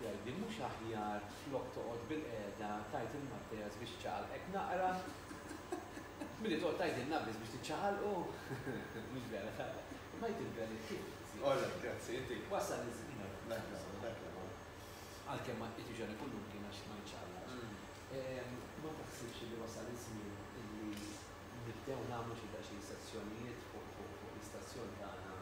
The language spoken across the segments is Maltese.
Jgħidli mhux aħjar flok toqgħod bilqiegħda tgħid il-Matteas biex iċaqalqek naqra? Milli toqgħod tgħidilna biss biex tiċċaqalqu? Mhux vera tara. Imma jgħid il-verit kif żied. All right, grazzi, inti. Wassal li żied nara. Dak li huwa, dak li huwa. Għalkemm ma tqidx għal ikun mumkin għax ma jiċċaqlaqx. Ma taħsibx li wasal iż-żmien illi nibdew nagħmlu xi daqsxejn sezzjonijiet fuq l-istazzjon tagħna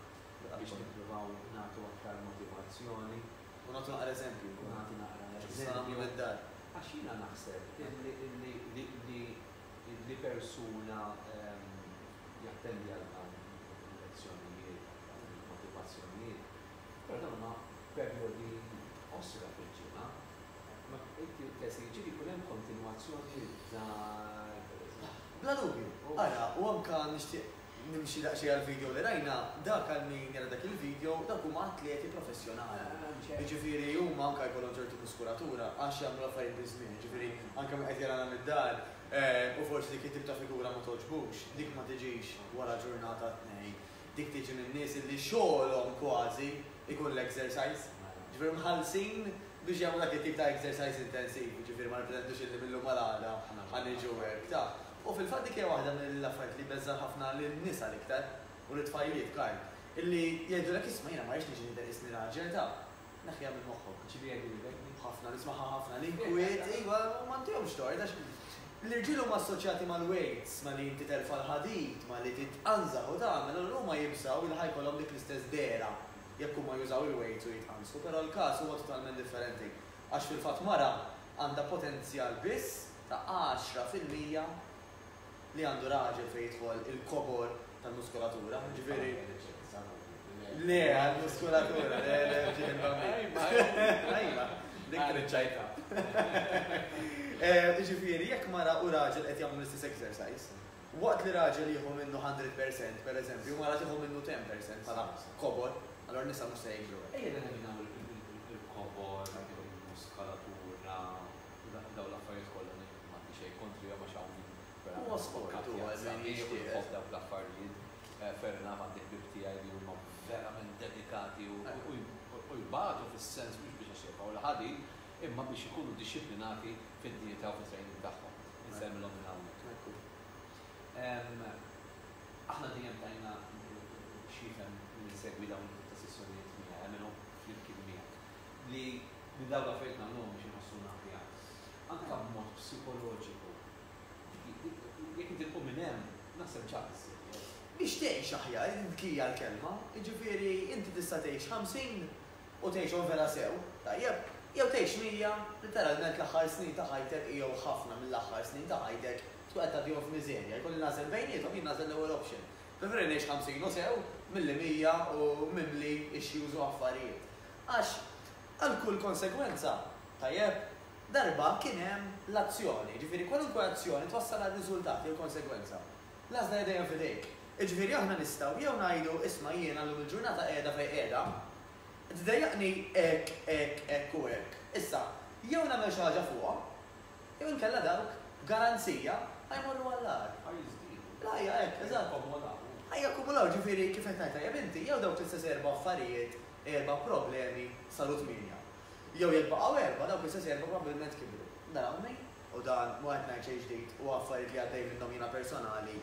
biex nippruvaw nagħtu aktar motivazzjoni u nagħtu naqra eżempju wkoll. Nagħti naqra eżempju. Għax jiena naħseb li persuna jattendi għal dawn il-lezzjonijiet il-motivazzjonijiet, però dawn huma perjodi qosra fil-ġimgħa. Ma inti lest li jiġifieri jkun hemm kontinwazzjoni id-dar, pereżempju? Bla dubju. Ara, u anke nixtieq Nimxi daqsxejn għall-video li rajna, dak għal min jara dak il-video, dawk huma atleti professjonali. Jiġifieri huma anke jkollhom ċertu muskulatura għax jagħmlu l-affarijiet biż-żmien, jiġifieri anke min qed jarana mid-dar u forsi dik it-tip ta' figura ma togħġbux, dik ma tiġix wara ġurnata tnejn. Dik tiġi minn nies li xogħolhom kważi jkun l-exercise. Jiġifieri mħallsin biex jagħmlu dak it-tip ta' exercise intensiv, jiġifieri ma nipretendux illi mil-lum għal għada ħa niġu hekk, taf. U fil-fatt dik hija waħda mill-affarijiet li jbeżżgħu ħafna lin-nisa l-iktar, u lit-tfajliet, Karl, illi jgħidulek isma' jiena ma rridx niġi nidher isni raġel, ta, neħħiha minn moħħok. Ġieli jgħidulek din. Ħafna, nismagħha ħafna. L-inkwiet, iva, u m'għandihomx tort għax l-irġiel huma assoċjati mal-weights, ma' li inti terfa' l-ħadid, ma' li titqanżaħ u tagħmel, allura huma jibżgħu li ħa jkollhom dik l-istess dehra jekk huma jużaw il-weights u jitqanżħu, però l-każ huwa totalment differenti għax fil-fatt mara għandha potenzjal biss ta' għaxra fil-mija li għandu raġel fejn jidħol il-kobor tal-muskulatura, jiġifieri. Le, għall-muskulatura, le, le, ġiet il-bambin. Ajma, dik triċċajta. Eh, jiġifieri, jekk mara u raġel qed jagħmlu l-istess exercise, waqt li raġel jieħu minnu 100%, per eżempju, mara tieħu minnu 10% bħala kobor, allora nisa mhux se jikbru. Ejja nagħmlu il-kobor, il-muskulatura. Dawn l-affarijiet kollha m'għandi xejn kontrihom għax hawn min verament huwa kkattjat sabiex u jħobb dawk l-affarijiet. Fair enough għandi ħbieb tiegħi li huma verament dedikati u jbatu fis-sens mhux biex għax jebgħu l-ħadid imma biex ikunu dixxiplinati fid-dieta u fit-training tagħhom. Insellmilhom minn hawnhekk. Aħna dejjem tajna x'jifhem min isegwi dawn it-tip ta' sessjonijiet miegħi, jagħmilhom flimkien miegħi. li li dawn l-affarijiet nagħmluhom biex inħossuna aħjar, anke b'mod psikoloġiku, jekk inti tqum minn hemm, naħseb ġa biżżejjed. Biex tgħix aħjar, dik hija l-kelma, jiġifieri inti tista' tgħix 50 u tgħixhom vera sew, tajjeb, jew tgħix 100, litteralment l-aħħar snin ta' ħajtek jew ħafna mill-aħħar snin ta' ħajtek tkun qed tgħaddihom f'miżerja, jkolli nagħżel bejniethom, jien nagħżel l-ewwel option. Preferi ngħix 50 u sew milli 100 u mimli issues u affarijiet. Għax għal kull konsegwenza, tajjeb, darba kien hemm l-azzjoni. Jiġifieri kwalunkwe azzjoni twassal għal riżultat jew konsegwenza. L-għażla hija dejjem f'idejk. Jiġifieri aħna nistgħu jew ngħidu, isma' jiena llum il-ġurnata qiegħda fejn qiegħda, tdejjaqni hekk, hekk, hekk u hekk. Issa, jew nagħmel xi ħaġa fuqha, jew inkella dawk, b'garanzija, ħa jmorru għall-agħar. Ħa jiżdiedu. L-ħajja hekk, eżatt. Ħa jakkumulaw. Ħa jakkumulaw, jiġifieri kif qed tgħid tajjeb inti, jew dawk l-istess erba' affarijiet erba' problemi saru tmienja. Jew jekk baqgħu erba', dawk l-istess erba' probbilment kibru. Narawni, u dan mhu qed ngħid xejn ġdid, huwa affarijiet li għaddej minnhom jiena personali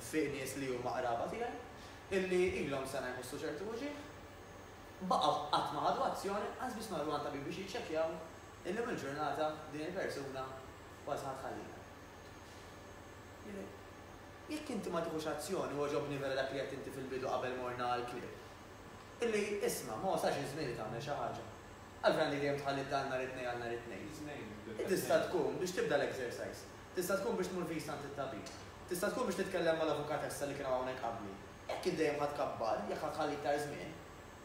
fi nies li huma qraba tiegħi, illi ilhom sena jħossu ċertu uġigħ, baqgħu qatt ma ħadu azzjoni, qas biss marru għand tabib biex jiċċekkjaw, illum il-ġurnata din il-persuna kważi ħa tħallina. Jiġifieri, jekk inti ma tiħux azzjoni, u għoġobni vera dak li għedt inti fil-bidu qabel morna għall-klieb, Illi, isma', ma wasalx iż-żmien li tagħmel xi ħaġa? Għalfejn għandi dejjem tħalli d-dawl nhar it-Tnejn għal nhar it-Tnejn? Tista' tkun biex tibda l-exercise. Tista' tkun biex tmur viż għand it-tabib. Tista' tkun biex titkellem mal-avukatessa li kienu hawnhekk qabli. Jekk int dejjem ħa tkabbar, jekk ħa tħalli iktar żmien,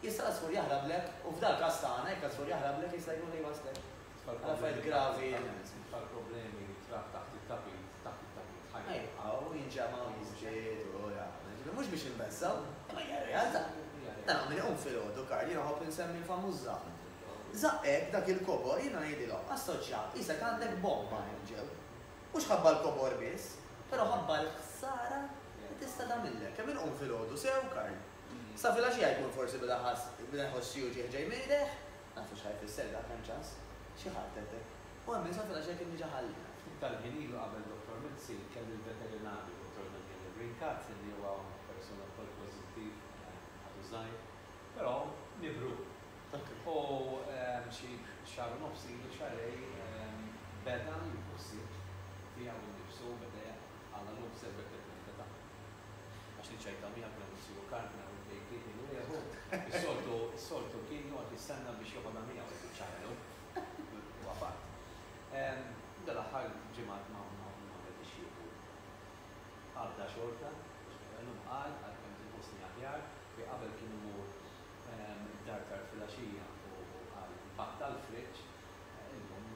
jista' żgur jahrablek, u f'dal-każ tagħna, jekk żgur jahrablek, jista' jkun li jwasslek L-affarijiet gravi tal-problemi trab taħt it-tapit, taħt it-tapit, ħa jibqgħu, jinġemgħu, jiżdiedu, u jagħmlu. Jiġifieri mhux biex inbeżżgħu, imma hija realtà. Nara min iqum filgħodu, Karl, jiena nħobb insemmi l-famuż żaqq. Żaqq hekk, dak il-kobor, jiena ngħidilhom, assoċja, qisek għandek bomba hemm ġew. Mhux ħabba l-kobor biss, però ħabba l-ħsara li tista' tagħmillek. Kemm inqum filgħodu sew, Karl. Sa filgħaxija jkun forsi beda ħass, beda jħoss xi uġigħ ġej mejdeħ, Nafu x'ħa jfisser dak, hemm ċans? Xi heart attack. U hemm min sofra daqsxejn kien diġà ħalli. Ftit tal-ħin ilu qabel Dottor Mizzi, kelli l-veterinarju, Dottor Daniele Brincati, li huwa persuna wkoll pożittiv, għadu żgħir, però mibrur. U xi xahar u nofs ilu, xahrej, beda jieħu ħsieb tiegħu nnifsu, beda jaqtgħalha l-observative meta taqtgħu. Għax niċċajta miegħek meta nsibu Carmina u l-kejk kien minn wieħu. Is-soltu, is-soltu kien joqgħod jistenna biex joħodha miegħu jfittxha ħelu. Huwa fatt. Dal-aħħar ġimgħat ma għamiltiex kieku. Għadda xorta, biex ngħidha llum, qal, għalkemm tinqusni aħjar, li qabel kien imur d-dar tard filgħaxija u qal battal friġġ, illum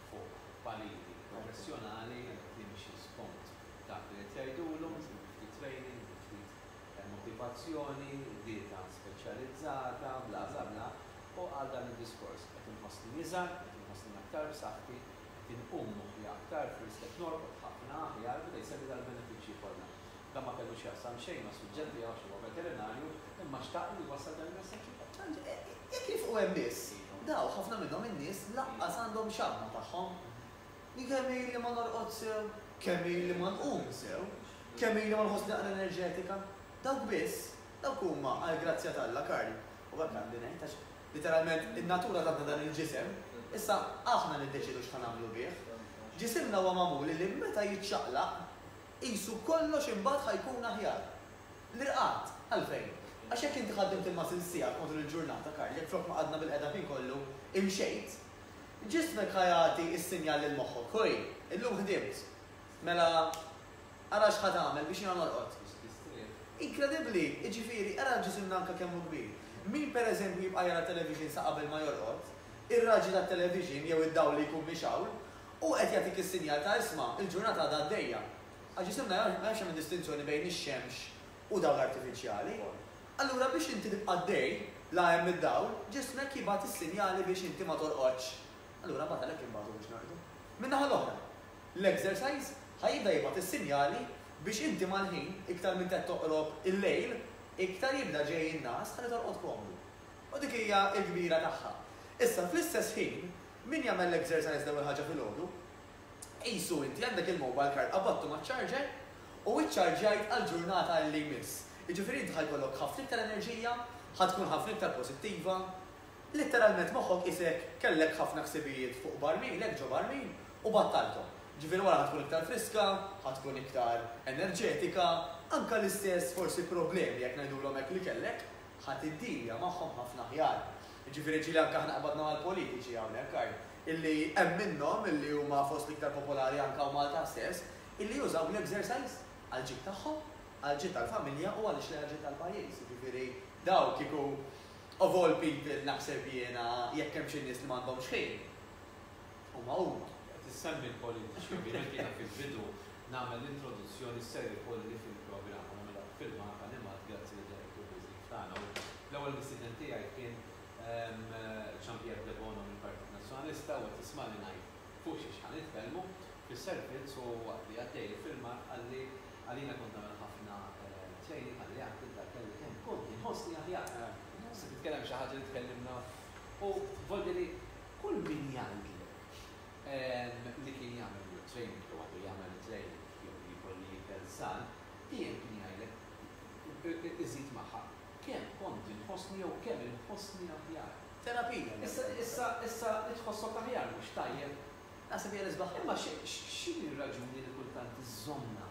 fuq pariri professjonali qed jimxi skont Dak li qed jgħidulhom, iżommu ftit training, iżommu ftit motivazzjoni, dieta speċjalizzata, bla bla bla, u qal dan id-diskors, Qed inħossni iżgħar, qed inħossni aktar b'saħħti, qed inqum moħħi aktar frisk, qed norqod ħafna aħjar, beda jsemmi dal-benefiċċji kollha. Dan ma kellu x'jaqsam xejn mas-suġġett tiegħu għax huwa veterinarju, imma xtaq li jwassal dan il-messaġġ ukoll. Jekk jifqu hemm biss, dawk, ħafna minnhom in-nies lanqas għandhom xaħma tagħhom. Jien kemm ili ma norqodx sew, kemm ili ma nqum sew, kemm ili ma nħossni aqra enerġetika. Dawk biss, dawk huma għall-grazzja t'Alla, Karl. U hekk għandi ngħid għax, literalment, in-natura tatna dan il-ġisem, issa aħna niddeċiedu x'ħa nagħmlu bih. Ġisimna huwa magħmul illi meta jiċċaqlaq, qisu kollox imbagħad ħa jkun aħjar. L-irqad, għalfejn? Għax jekk inti ħaddimt il-muscles tiegħek matul il-ġurnata, Karl, jekk flok ma qgħadna bil-qegħda l-ħin kollu, imxejt, Ġismek ħa jagħti s-sinjal lil moħħok, Hui, illum ħdimt. Mela, ara x'ħa tagħmel biex jiena norqod. Inkredibbli, jiġifieri, ara ġisimna anke kemm hu kbir. Min pereżempju jibqa' jara television sa qabel ma jorqod, ir-raġġi tat-television jew id-dawl li jkun mixgħul, hu qed jagħtik is-sinjal ta' isma', il-ġurnata għadha għaddejja. Għax ġisimna ma jafx jagħmel distinzjoni bejn ix-xemx u dawl artifiċjali, allura biex inti tibqa' għaddej la hemm id-dawl, ġismek jibgħat is-sinjali biex inti ma torqodx. Allura mbagħad għalhekk inbagħtu biex norqdu. Min-naħa l-oħra, l-exercise ħa jibda jibgħat is-sinjali biex inti mal-ħin, iktar m'inti qed toqrob il-lejl, iktar jibda ġej in-ngħas ħalli torqod komdu. U dik hija l-kbira tagħha. Issa, fl-istess ħin, min jagħmel l-exercise l-ewwel ħaġa filgħodu, Qisu inti għandek il-mobile card qabattu maċ-charger u iċċarġjajt għal ġurnata illi jmiss. Jiġifieri inti ħa jkollok ħafna iktar enerġija, ħa tkun ħafna iktar pożittiva. Litteralment moħħok qisek kellek ħafna ħsibijiet fuq barmilek, ġo barmil, u battalthom. Jiġifieri wara ħa tkun iktar friska, ħa tkun iktar enerġetika, anke l-istess forsi problemi jekk ngħidulhom hekk li kellek, ħa tiddilia magħhom ħafna aħjar. Jiġifieri ġieli anke aħna qbadna mal-politiċi hawnhekk għaj, illi hemm minnhom illi huma fost l-iktar popolari anke hawn Malta stess, illi jużaw l-exercise għall-ġid tagħhom, għall-ġid tal-familja u għaliex le għall-ġid tal-pajjiż. Jiġifieri dawn kieku of all people naħseb jiena jekk hemm xi nies li m'għandhomx ħin, U magħhud qed issemmi l-politiċi, ovvjament jiena fil-bidu nagħmel l-introduzzjoni s-ser ikolli fil-programm u nagħmilha b'filmat animat grazzi lil Derek Yu l-miżjed tagħna u l-ewwel mistieden tiegħi kien Jean Pierre Debono mill-Partit Nazzjonalista u qed jismagħni ngħid fuq xiex ħa nitkellmu fis-servizz u waqt li għaddej il-filmat qalli għal jiena kont nagħmel ħafna training qalli għad tibda kelli kemm kont inħossni aħjar. Se titkellem xi ħaġa li tkellimna u volli li Kull min jgħidlek li kien jagħmel weight training jew għadu jagħmel it-training jew li jkolli jikel san, dejjem kien jgħidlek, iżid magħha, kemm kont inħossni jew kemm inħossni aħjar. Terapija li għamilt. Issa, issa li tħossok aħjar mhux tajjeb? Naħseb hija l-isbaħ. Imma x'inhi r-raġuni li kultant iżżommna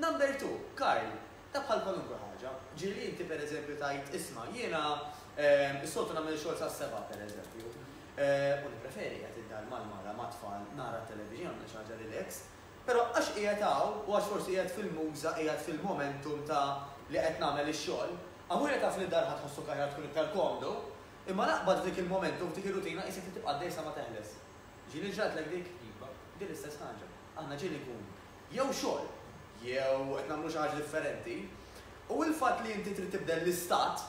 Number two, Karl, ta' bħal kwalunkwe ħaġa. Ġieli inti per eżempju tgħid isma' jiena s-soltu nagħmel ix-xogħol sas-sebgħa per eżempju. U nippreferi qed id-dar mal-mara mat-tfal nara t-television nagħmel xi ħaġa relax. Però għax qiegħed hawn u għax forsi qiegħed fil-muża qiegħed fil-momentum ta' li qed nagħmel ix-xogħol, aħwi li taf li d-dar ħa tħossok aħjar tkun iktar komdu, imma l-aqbad f'dik il-momentum f'dik ir-rutina qisek li tibqa' għaddej sa ma teħles. Ġieli ġratlek dik? Iva. Din l-istess ħaġa. Aħna ġieli nkunu. jew xogħol, jew qed nagħmlu xi ħaġa differenti, u l-fatt li inti trid tibdel l-istat,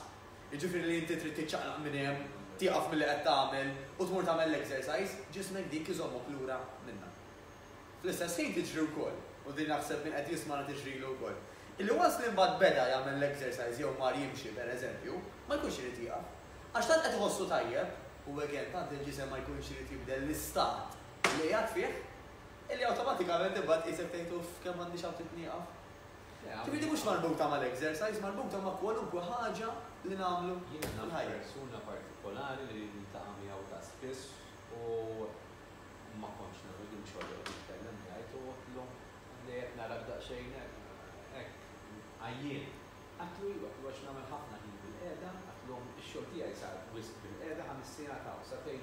jiġifieri li inti trid tiċċaqlaq minn hemm, tieqaf milli qed tagħmel u tmur tagħmel l-exercise, ġismek dik iżommok lura minnha. Fl-istess ħin tiġri wkoll, u din naħseb min qed jismagħna tiġrilu wkoll, illi once li mbagħad beda jagħmel l-exercise jew mar jimxi pereżempju, ma jkunx irid jieqaf. Għax tant qed iħossu tajjeb, u again tant il-ġisem ma jkunx irid jibdel l-istat li qiegħed fih, Illi awtomatikament imbagħad qisek tgħid uff kemm m'għandix hawn trid nieqaf. Ġifieri mhux marbuta mal-exercise, marbuta ma' kwalunkwe ħaġa li nagħmlu fil-ħajja. Jiena naf persuna partikolari li niltaqa' miegħu ta' spiss u ma kontx nagħmel din xogħli u nitkellem jgħid u għidlu li qed narak daqsxejn hekk għajjien. Għidtlu iva, għidtlu għax nagħmel ħafna ħin bilqiegħda, għidtlu ix-xogħol tiegħi sar wisq bilqiegħda, ħames sigħat hawn, sagħtejn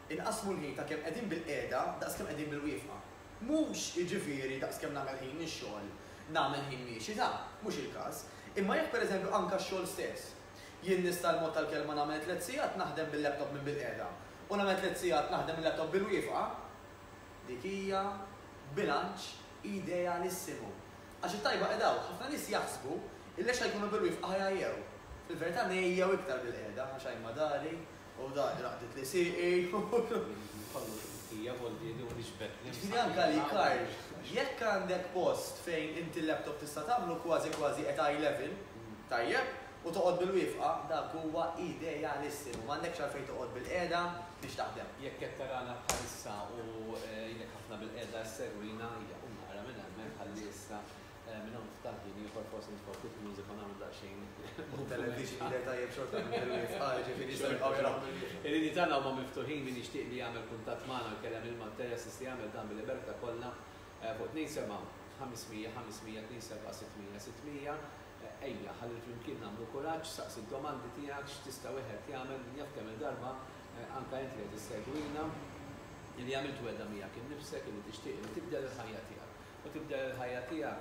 Inqassmu l-ħin ta' kemm qegħdin bil-qiegħda daqs kemm qegħdin bil-wieqfa. Mhux, jiġifieri, daqs kemm nagħmel ħin nix-xogħol, nagħmel ħin miexi, ta', mhux il-każ. Imma jekk, per eżempju, anka x-xogħol stess. Jien nista' l-mod tal-kelma nagħmel tliet sigħat naħdem bil-laptop minn bil-qiegħda u nagħmel tliet sigħat naħdem il-laptop bil-wieqfa? Dik hija bilanċ idealissimu. Għax it-tajba qiegħda hawn. Ħafna nies jaħsbu illi għax ħa jkunu bil-wieqfa ħa jgħajjew. Fil-verità ngħejjew iktar bil-qiegħda għax għajn ma dari, U dan li naqdet li sieqi. Kollox hija volti li hu nixbet. Jiġifieri anke għalik Karl, jekk għandek post fejn inti l-laptop tista' tagħmlu kważi kważi at eye level, tajjeb, u toqgħod bil-wieqfa, dak huwa idealissimu. M'għandekx għalfejn toqgħod bil-qiegħda biex taħdem. Jekk qed tarana bħalissa u jgħinlek ħafna bil-qiegħda ssegwina, ejja, qum naqra minn hemmhekk ħalli issa Minn hawn f'dan ħin ieħor forsi nitfgħu ftit music u nagħmlu daqsxejn move. Televixin jidher tajjeb xorta mill-bidu jifqar, ġifieri jistgħu jibqgħu jaraw mill-bidu. Il-linji tagħna huma miftuħin, min jixtieq li jagħmel kuntatt magħna u jkellem lil Matteja jista' jagħmel dan bil-libertà kollha fuq 27 500 500 27 600 600. Ejja, ħalli flimkien nagħmlu kuraġġ, saqsi d-domandi tiegħek, x'tista' wieħed jagħmel, min jaf kemm-il darba anke int li qed issegwina, li għamilt wegħda miegħek innifsek illi tixtieq illi tibdel il-ħajja tiegħek. U tibdel il-ħajja tiegħek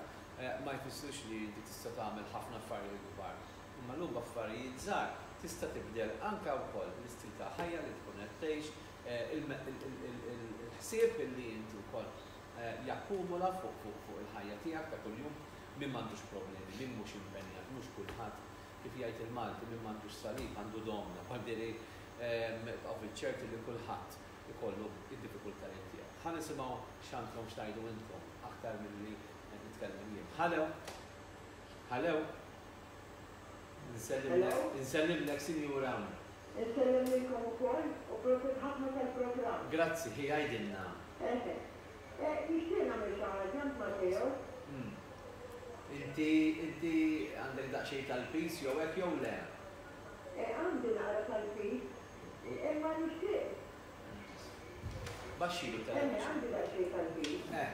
ma jfissirx li inti tista' tagħmel ħafna affarijiet kbar, imma llum b'affarijiet żgħar tista' tibdel anke wkoll l-istil ta' ħajja li tkun qed tgħix, il-ħsieb li inti wkoll jakkumula fuq il-ħajja tiegħek ta' kuljum, min m'għandux problemi, min mhux impenjat, mhux kulħadd, kif jgħid il-Malti, min m'għandux salib għandu domna, bħal diri tqogħdu ċerti li kulħadd ikollu d-diffikultajiet tiegħu. Ħa nisimgħu x'għandkom x'tgħidu intkom aktar milli qed nitkellem jien. Halew! Halew! Nsellimlek, insellimlek Sinjura. Insellem lilkom ukoll u prosit ħafna tal-programm. Grazzi, ħi għidilna. Eħe. Nixtieq nagħmel xi ħaġa għand Mateo. Umm. Inti, inti għandek daqsxejn tal-piż jew hekk jew le? Għandi naqra tal-piż. Imma nixtieq. Baxxilu t-televixin. Emmie, għandi daqsxejn tal-ħin. Eh.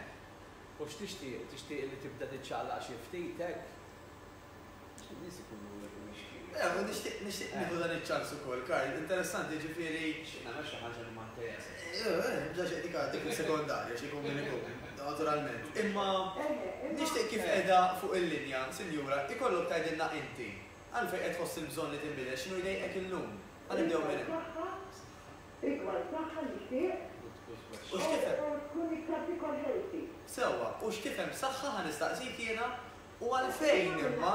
U x'tixtieq? Tixtieq li tibda tiċċaqlaq xi ftit hekk? Għax in-nies ikunu mixkija. Eh, u nixtieq, nixtieq nieħu dan iċ-ċans ukoll, Karl. Interessanti, jiġifieri. Nixtieq nagħmel xi ħaġa li ma ntajjasx. Eh, eh, bla xejn, dik għad, dik is-sekondarja, xi jkun min ikun, naturalment. Imma. Emmie, imma. Nixtieq kif qiegħda fuq il-linja, Sinjura, ikollok tgħidilna inti. Għalfejn qed tħoss il-bżonn li tinbidel? X'inhu jdejqek illum? Ħa nibdew minn hemm. Rigward saħħa nixtieq Oxford tkun iktar tikol healthy. Sewwa, u x'tifhem b'saħħa ħa nistaqsik jiena? U għalfejn imma?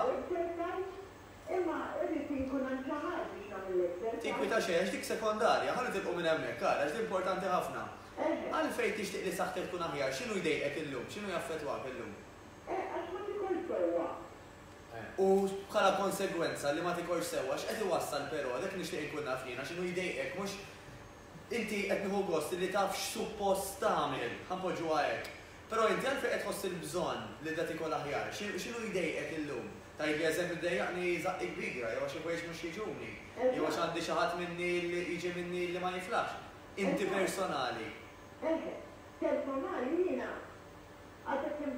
Imma irrid inkun hemm xi ħadd biex nagħmel l-exercise. Tinkwita xejn għax dik sekondarja, ħa nitilqu minn hemmhekk ara għax din importanti ħafna. Għalfejn tixtieq li saħħtek tkun aħjar? X'inhu jdejqek illum? X'inhu jaffettwak illum? Eh, għax ma tikolx sewwa. u bħala konsegwenza li ma tikolx sewwa x'qed iwassal però, dak li nixtieq inkun naf jiena x'inhu jdejqek mhux inti qed nieħu gost li taf x'suppost tagħmel, ħa npoġġuha hekk, però inti għalfejn qed tħoss il-bżonn li da tikol aħjar? X'inhu jdejqek illum? Tgħidli eżempju ddejjaqni żaqqi kbira, jew għax il-ħwejjeġ mhux jiġuni, jew għax għandi xi ħadd minni li jiġi minni li ma jiflaħx. Inti personali. Eżatt. Personali jiena għad kemm.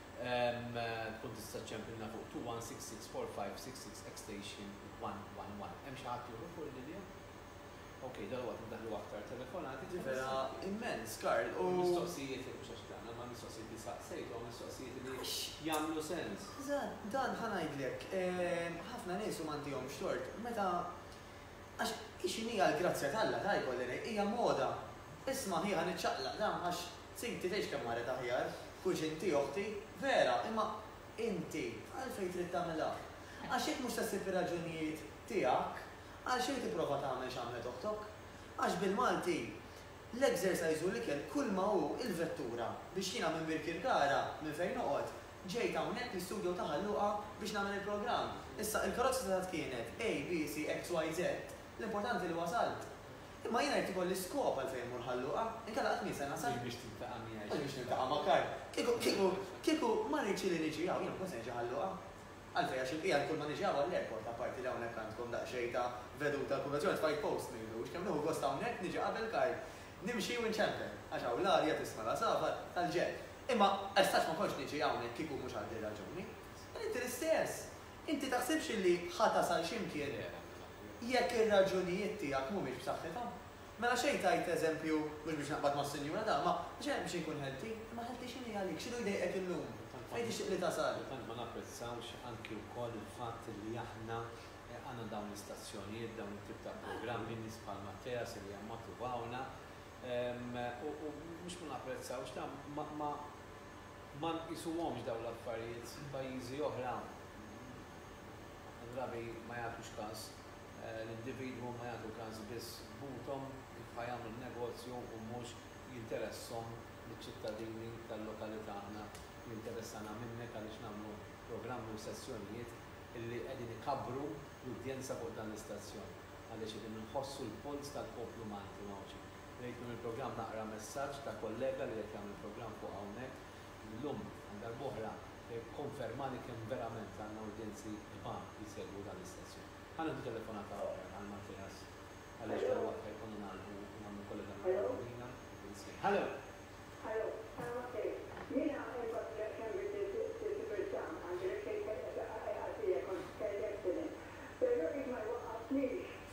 Tkun tista' ċċempilna fuq 21664566 extension 111. Hemm xi ħadd ieħor fuq il-linja? Ok, dalwaqt indaħħlu aktar telefonati. Di vera immens, Karl, u. Mistoqsijiet, mhux għax dan, imma mistoqsijiet li saqsejt huma mistoqsijiet li jagħmlu sens. Eżatt, dan ħa ngħidlek, ħafna nies, u m'għandihomx tort, meta għax hi x'inhi għall-grazzja t'Alla, ta' jkolli ngħid, hija moda. Isma' hi ħa niċċaqlaq, dan għax Siti tgħix kemm marret aħjar, tkunx inti oħti, vera, imma inti għalfejn trid tagħmilha? Għax jekk mhux se ssib ir-raġunijiet tiegħek, għalxejn tipprova tagħmel x'għamlet oħtok? Għax bil-Malti, l-exercise u l-ikel kulma hu il-vettura biex jiena minn Birkirkara, minn fejn noqgħod, ġejt hawnhekk l-istudio ta' Ħal Luqa biex nagħmel il-programm. Issa, il-karozza setgħet kienet A, B, C, X, Y, Z, l-importanti li wasalt. Imma jiena jrid ikolli skop għalfejn immur Ħal-Luqa, inkella qatt mhi se nasal. Mhux biex tiltaqa' miegħi. Mhux biex niltaqa' ma' Karl. Kieku, kieku, kieku ma rridx li niġi hawn, jien ma kontx se niġi Ħal-Luqa. Għalfejn? Għax il-bqija l-kull ma niġi hawn għall-airport, apparti li hawnhekk għandkom daqsxejn ta' veduta għall-konvenzjoni, tfajt post m'ilux. Kemm nieħu gost hawnhekk, niġi qabel Karl. Nimxi u nċempel, għax hawn l-arja tisma' l-għasabat tal-ġenb. Imma, għax tant ma kontx niġi hawnhekk kieku mhux għal din ir-raġuni. Inti l-istess. Inti taħsibx illi ħa tasal xi mkien jekk ir-raġunijiet tiegħek mhumiex b'saħħithom? Mela xejn tgħid eżempju, mhux biex naqbad mas-Sinjura Dama, u xejn biex inkun ħelti, imma ħelti x'inhi għalik? X'inhu jdejqek illum? Fejn tixtieq li tasal? Tant ma napprezzawx anki wkoll il-fatt illi aħna għandna dawn l-istazzjonijiet, dawn it-tip ta' programmi, nies bħal Matteas illi jammatuvawna, u mhux ma napprezzawx dan, ma, ma, Ma nqisuhomx dawn l-affarijiet f'pajjiżi oħra. Ħafna drabi ma jagħtux każ. L-individwu ma jagħtu każ biss b'buthom kif ħa jagħmlu n-negozju u mhux jinteressahom liċ-ċittadini tal-lokalità. Aħna jinteressana minnek għaliex nagħmlu programmi u sessjonijiet li qegħdin ikabbru l-udjenza fuq dan l-istazzjon għaliex qegħdin inħossu l-polz tal-poplu Malti u Għawdxin. Bdejt b'dan il-programm naqra messaġġ ta' kollega li qed jagħmel programm fuq hawnhekk illum għal darb'oħra kkonfermani kemm verament għandna udjenzi kbar li jsegwu dan l-istazzjon. Ħa nieħdu telefonata oħra għal Malteas għaliex dalwaqt ħa jkollna nagħlqu u nagħmlu kollega nagħmlu l-għawdina u nsejħ. Hallo! Hallo! Hallo Malteas! Jiena imbagħad kemm biddlilt il-programm għandi l-irkejjel qed jaqqa' qiegħed bija kont kelli accident. Però id ma jwaqqafnix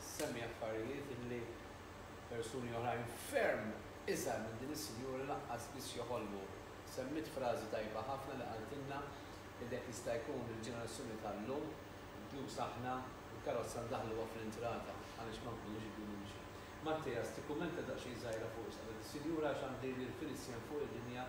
issemmi affarijiet illi persuni oħrajn ferm iżgħar minn din is-sinjura lanqas biss joħolmu. Semmiet frażi tajba ħafna li qaltilna illi jekk jista' jkun il-ġenerazzjoni tal-lum, inkluż aħna, il-karozza ndaħħluha fl-intrata għaliex ma nkunux irridu nimxu. Mattias, tikkummenta daqsxejn żgħira fuq x'qalet is-sinjura għax għandi lil Felicien fuq il-linja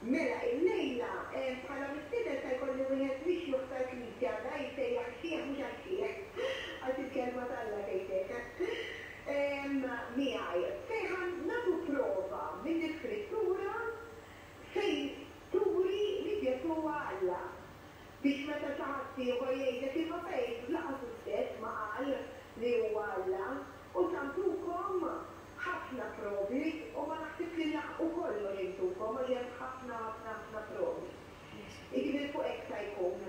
Mela, illejla, bħala mistieden se jkolli wieħed mixjukh tal-Knisja, da jissejjaħ ix-xiħ mhux għax-xiħ, għax il-Kelma t'Alla tgħid hekk, miegħi. Sejħa nagħtu prova mill-Iskrittura fejn turi li Ġesù huwa Alla, biex meta xi ħaddieħor jgħidlek imma Pejtru lanqas hu stess ma qal li huwa Alla. U tagħtukom ħafna provi, u ma naħsibx li laħqu kollox intukom għax hemm ħafna ħafna ħafna provi. Jiġifieri fuq hekk sa jkun.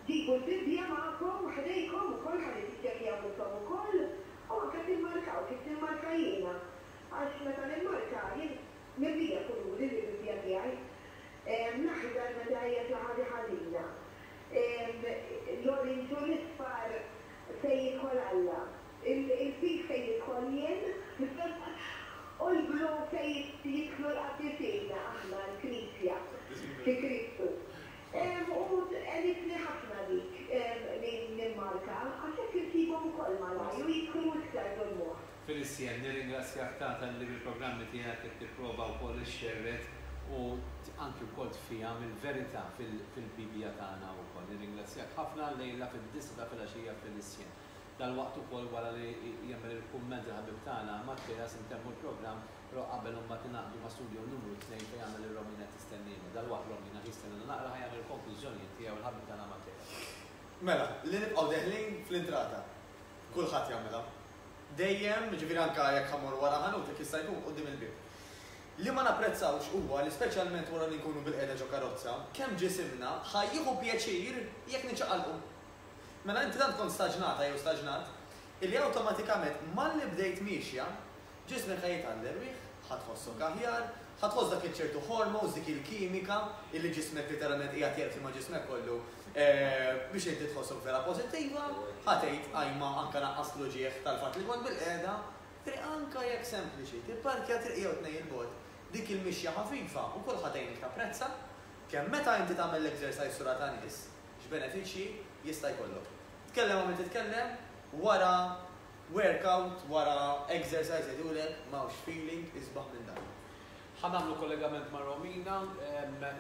Ġibu l-Bibbja magħkom ħdejkom ukoll ħalli tiċċekkjaw intom ukoll u anke timmarkaw kif nimmarka jiena għax meta nimmarka jien mimlija kuluri l-Bibbja tiegħi. L-aħdar meta hija xi ħaġa ħażina, l-orange u l-isfar Fejn jidħol Alla. Il-pig fejn nidħol jien. U l-blu fejn jidħlu l-qaddisin, aħna, l-Knisja, fi Kristu. U tqenitni ħafna dik li nimmarka, għax hekk insibhom ukoll malajr u jidħlu iktar ġol-moħħ. Félicien, nirringrazzjak tant talli bil-programmi tiegħek qed tipprova wkoll ixxerred u anki wkoll tfieham il-verità fil-Bibbja tagħna wkoll. Nirringrazzjak ħafna llejla fid-disgħa ta' filgħaxija Félicien. Dalwaqt ukoll wara li jagħmel il-kumment il-ħabib tagħna Matteas intemmu l-programm però qabel imbagħad ingħaqdu ma' Studio Numru Tnejn fejn jagħmel ir-Romina qed tistenniena. Dalwaqt Romina ħi stenniena naqra ħa jagħmel il-konklużjonijiet tiegħu il-ħabib tagħna Matteas. Mela, li nibqgħu deħlin fl-intrata. Kulħadd jagħmilha. dejjem, jiġifieri anke jekk ħa mmorru wara ħanut, jekk jista' jkun, quddiem il-bieb. Li ma napprezzawx huwa li speċjalment wara li nkunu bilqiegħda ġo karozza, kemm ġisimna ħa jieħu pjaċir jekk niċċaqalqu. Mela inti tant kont staġnata jew staġnat illi awtomatikament malli bdejt miexja, ġismek ħa jitgħalli rwieħ, ħa tħossok aħjar, Ħa tħoss dak iċ-ċertu hormones, dik il-kimika illi ġismek literalment qiegħed jerqsi ma' ġismek kollu biex inti tħossok vera pożittiva, ħa tgħid ajma anke naqqast l-uġigħ tal-fatt li kont bilqiegħda, triq anke jekk sempliċi, tipparkja triq jew tnejn 'il bogħod, dik il-mixja ħafifa wkoll ħa tgħinik tapprezza kemm meta inti tagħmel l-exercise sura ta' nies, x'benefiċċji jista' jkollok. Tkellem qabel titkellem, wara Workout wara exercise jgħidulek m'hawnx feeling isbaħ minn dan. Ħa nagħmlu kollegament ma' Romina,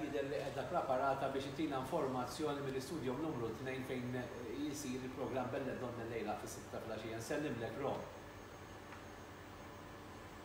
jidher li qiegħda praparata biex itina informazzjoni mill-istudium numru tnejn fejn isir il-programm Belle Donne llejla fis-sitta filgħaxija. Nsellimlek Rom.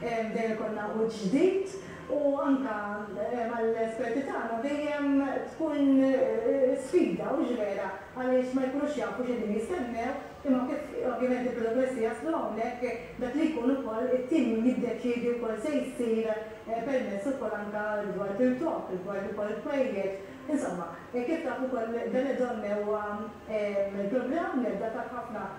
Dejjem ikollna wiċċ ġdid u anke mal-esperti tagħna dejjem tkun sfida, hux vera, għaliex ma jkunux jafu x'qegħdin jistennew, imma kif ovvjament il-protokollisti jaslu hawnhekk, dak li jkun ukoll it-tim jiddeċiedi wkoll se jsir permezz ukoll anke rigward il-klokk, rigward ukoll il-pwejjeġ. Insomma, kif taf ukoll Belle Donne huwa programm li għadda taf ħafna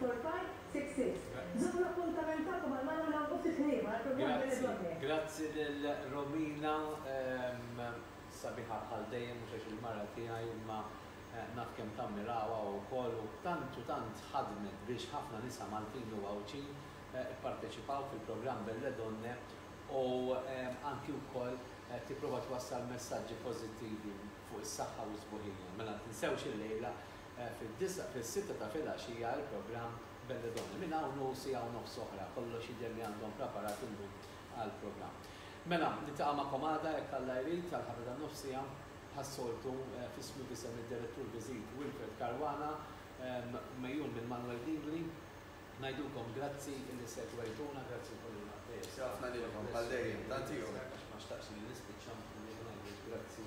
Four five six six Żommu l-appuntament tagħkom għal Manu Lang u ftit ħliema għal programm delle donne. Grazzi, grazzi lil Romina, sabiħa bħal dejjem mhux għax il-mara tiegħi imma naf kemm tammiraha wkoll u tant u tant ħadmet biex ħafna nisa Maltin u Għawdxin ipparteċipaw fil-programm Belle Donne u anki wkoll tipprova twassal messaġġi pożittivi fuq is-saħħa u s-sbuħija. Mela tinsewx illejla Fid-disgħa, fis-sitta ta' filgħaxija il-programm Belle Donne. Minn hawn u siegħa u nofs oħra kollox jidher li għandhom praparat il-lum għall-programm. Mela, niltaqa' magħkom għada jekk Alla jrid għall-ħatra tan-nofsija. Bħas-soltu, f'ismu f'isem id-Direttur Viżit Wilfred Caruana, mgħejjun minn Manuel Dingli, ngħidulkom grazzi illi segwejtuna, grazzi wkoll lil Matteo Sala. Grazzi ħafna lilkom bħal dejjem. Tant ieħor. Għax ma xtaqtx li nispiċċa billi ma ngħidux grazzi.